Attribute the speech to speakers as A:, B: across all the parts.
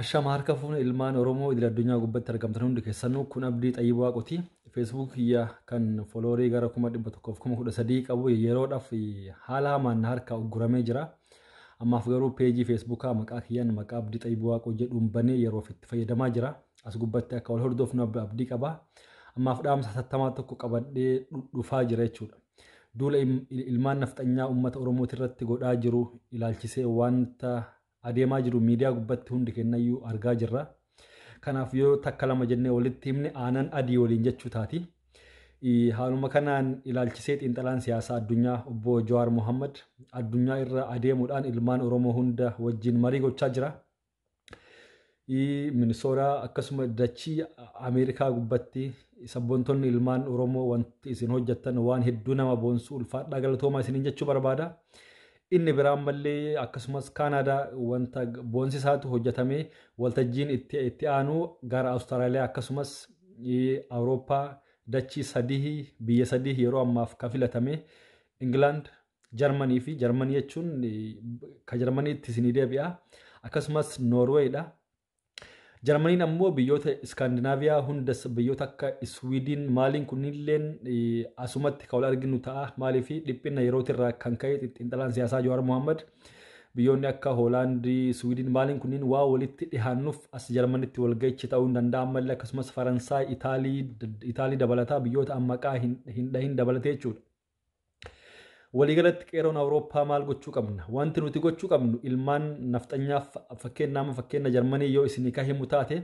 A: Ashama harka fuune ilmaan Oromoo idil addunyaa gubbatti argamtan hundi keessanuu kun abdii xayyib waaqoti feesbuuk kiyya kan foloorii gara kuma dhibba tokkoof kuma kudha sadii qabu yeroodhaaf haala hamaan na harkaa ugguramee jira. Ammaaf garuu peejii feesbuukaa maqaa kiyyaan maqaa abdii xayyib waaqoo jedhuun banee yeroof itti fayyadamaa jira. As gubbatti akka wal hordofnu abdii qaba. Ammaaf dhaamsa hatattamaa tokko qabadhee dhufaa jira jechuudha. Duula ilmaan nafxanyaa uummata Oromootirratti godhaa jiru ilaalchisee wanta adeemaa jiru miidiyaa gubbatti hundi kennayyuu argaa jirra. Kanaaf yoo takka lama jennee walitti himne aanan adii waliin jechuu taati. Haaluma kanaan ilaalchisee xiinxalaan siyaasaa addunyaa obbo Jawaar Mohammad addunyaa irra adeemuudhaan ilmaan Oromoo hunda wajjin marii gochaa jira. Minisooraa akkasuma dachii Ameerikaa gubbatti sabboontonni ilmaan Oromoo wanti isin hojjettan waan hedduu nama boonsu ulfaadhaa galatoomaa isiniin jechuu barbaada. Inni biraan mallee akkasumas Kaanaadaa wanta boonsisaatu hojjetamee waltajjiin itti itti aanu gara Awustiraaliyaa akkasumas Awurooppaa dachii sadii biyya sadii yeroo ammaaf ka filatame Ingilaand, Jarmanii fi Jarmanii jechuun ka Jarmaniitti isinii deebi'a. Akkasumas Noorweeyidha. Jarmaniin ammoo biyyoota Iskaandinaaviyaa hundas biyyoota akka Iswiidiin maaliin kunniilleen asumatti ka wal arginu ta'a. Maaliif dhiphina yerootirraa kan ka'e xiinxalaan siyaasaa Jawaar Mohaammed biyyoonni akka Hoolaandii, Iswiidiin maaliin kunniin waa walitti dhihaannuuf as Jarmanitti walga'ichi ta'uu hin danda'a. Ammallee akkasumas Faransaay, Itaalii dabalataa biyyoota ammaqaa hin dhahin dabalatee jechuudha. Waliigalatti qeeroon Awurooppaa maal gochuu qabna? Wanti nuti gochuu qabnu ilmaan nafxanyaaf fakkeenya amma fakkeenya Jarmanii yoo isinii ka himu taate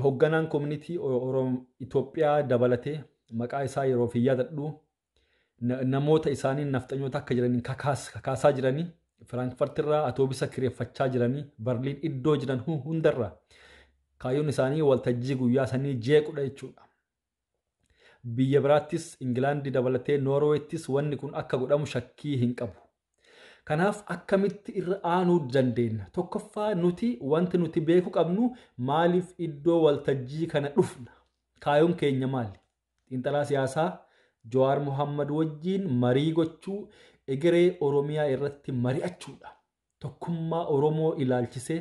A: hogganaan koominitii Oromoo Itoophiyaa dabalatee maqaa isaa yeroo fi yaadadhu namoota isaanii nafxanyoota akka jiraniin kakaasaa jiranii Firaankfart irraa atoobisa kireeffachaa jiranii Barliin iddoo jiran hundarraa kaayyoon isaanii waltajjii guyyaa sanii jeequdha jechuudha. Biyya biraattis, Ingilaandi dabalatee Noorweettis wanni kun akka godhamu shakkii hin qabu. Kanaaf akkamitti irra aanuu dandeenna? Tokkoffaa nuti wanti nuti beeku qabnu maaliif iddoo waltajjii kana dhufna? Kaayoon keenya maali? Xiinxalaa siyaasaa Jawaar Mohammad wajjiin marii gochuu, egeree Oromiyaa irratti mari'achuudha. Tokkummaa Oromoo ilaalchisee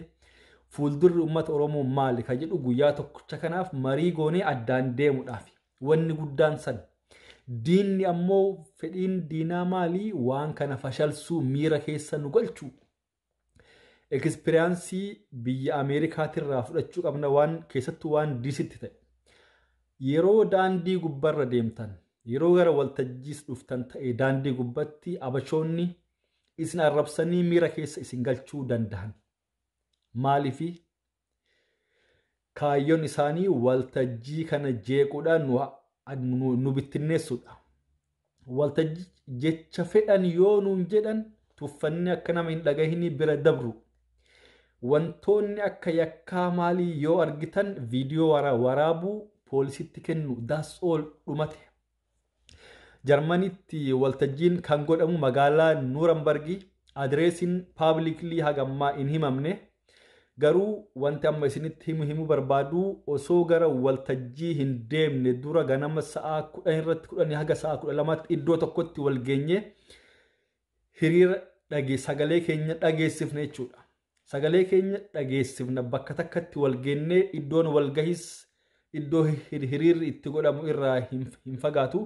A: fuuldurri uummata Oromoo maali ka jedhu guyyaa tokkicha kanaaf marii goonee addaan deemudhaaf. Wanni guddaan san. Diinni ammoo fedhiin diinaa maali waan kana fashalsuu miira keessa nu galchuu. Ekspiriyaansii biyya Ameerikaatirraa fudhachuu qabna waan keessattuu waan diisitti ta'e. Yeroo daandii gubbarra deemtan yeroo gara waltajjiis dhuftan ta'e daandii gubbatti abashoonni isin arrabsanii miira keessa isin galchuu dandahan. Maaliifi? Kaayyoon isaanii waltajjii kana jeequudhaan nu, nu, nu bittinneessuudha. Waltajjii jecha fedhan yoo nuun jedhan tuffanni akka nama hin dhagahinii bira dabru. Wantoonni akka yakkaa maalii yoo argitan viidiyoo wara, waraabuu poolisitti kennu. That's all dhumate. Jarmanitti waltajjiin kan godhamu magaalaa Nuurambargi adireesiin paabliklii hagammaa hin himamne garuu wanti amma isinitti himu himu barbaadu osoo gara waltajjii hin deemne dura ganama sa'a kudhan irratti kudhanii haga sa'a kudha lamaatti iddoo tokkotti wal geenye hiriira dhage sagalee keenya dhageessifne jechuudha. Sagalee keenya dhageessifna bakka takkatti wal geennee iddoon walgahis iddoo hir- hiriirri itti godhamu irraa hin hin fagaatu.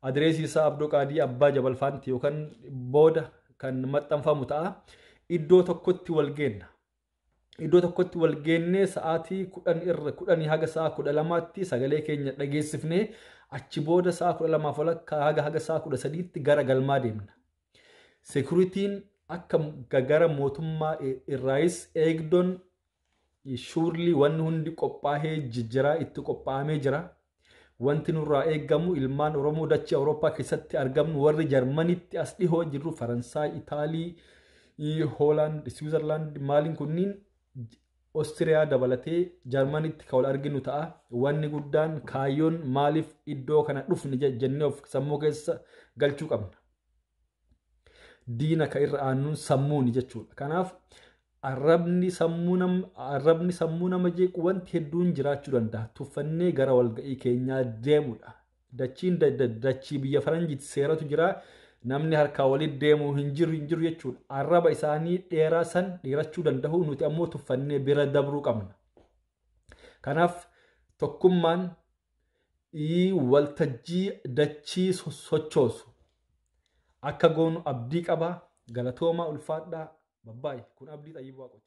A: Adireesii isaa Abdoo Qaadii Abbaa Jabal Faanti yookaan booda kan maxxanfamu ta'a. Iddoo tokkotti wal geenna. iddoo tokkotti wal geennee sa'aatii kudhan irra kudhanii haga sa'a kudha lamaatti sagalee keenya dhageessifne achi booda sa'a kudha lamaaf walakkaa haga haga sa'a kudha sadiitti gara galmaa deemna. Sekuritiin akka gara mootummaa irraayis eegdoon shuurlii wanni hundi qophaa'ee jijjiraa itti qophaa'amee jira. Wanti nurraa eegamu ilmaan Oromoo dachee Awurooppaa keessatti argamnu warri Jarmanitti as dhihoo jirru Faransaay, Itaalii, Hoolaand, Siwiizerlaand maaliin kunniin Ostiriyaa dabalatee Jarmanitti kan wal arginu ta'a. Wanni guddaan kaayyoon maaliif iddoo kana dhufne jennee of sammuu keessa galchuu qabna. Diina ka irra aannuun sammuuni jechuudha. Kanaaf arrabni sammuu nam arrabni sammuu nama jeequ wanti hedduun jiraachuu danda'a. Tuffannee gara walga'ii keenyaa deemudha. Dachiin da- da- dachii biyya faranjiitti seeratu jira. Namni harkaa walitti deemu hin jiru hin jiru jechuudha. Arraba isaanii dheeraa san dheerachuu danda'u nuti ammoo tuffannee bira dabruu qabna. Kanaaf tokkummaan ii Waltajjii dachii sossochoosu akka goonu abdii qaba. Galatoomaa ulfaadhaa. Babbaay. Kun Abdii Xayyib Waaqoti.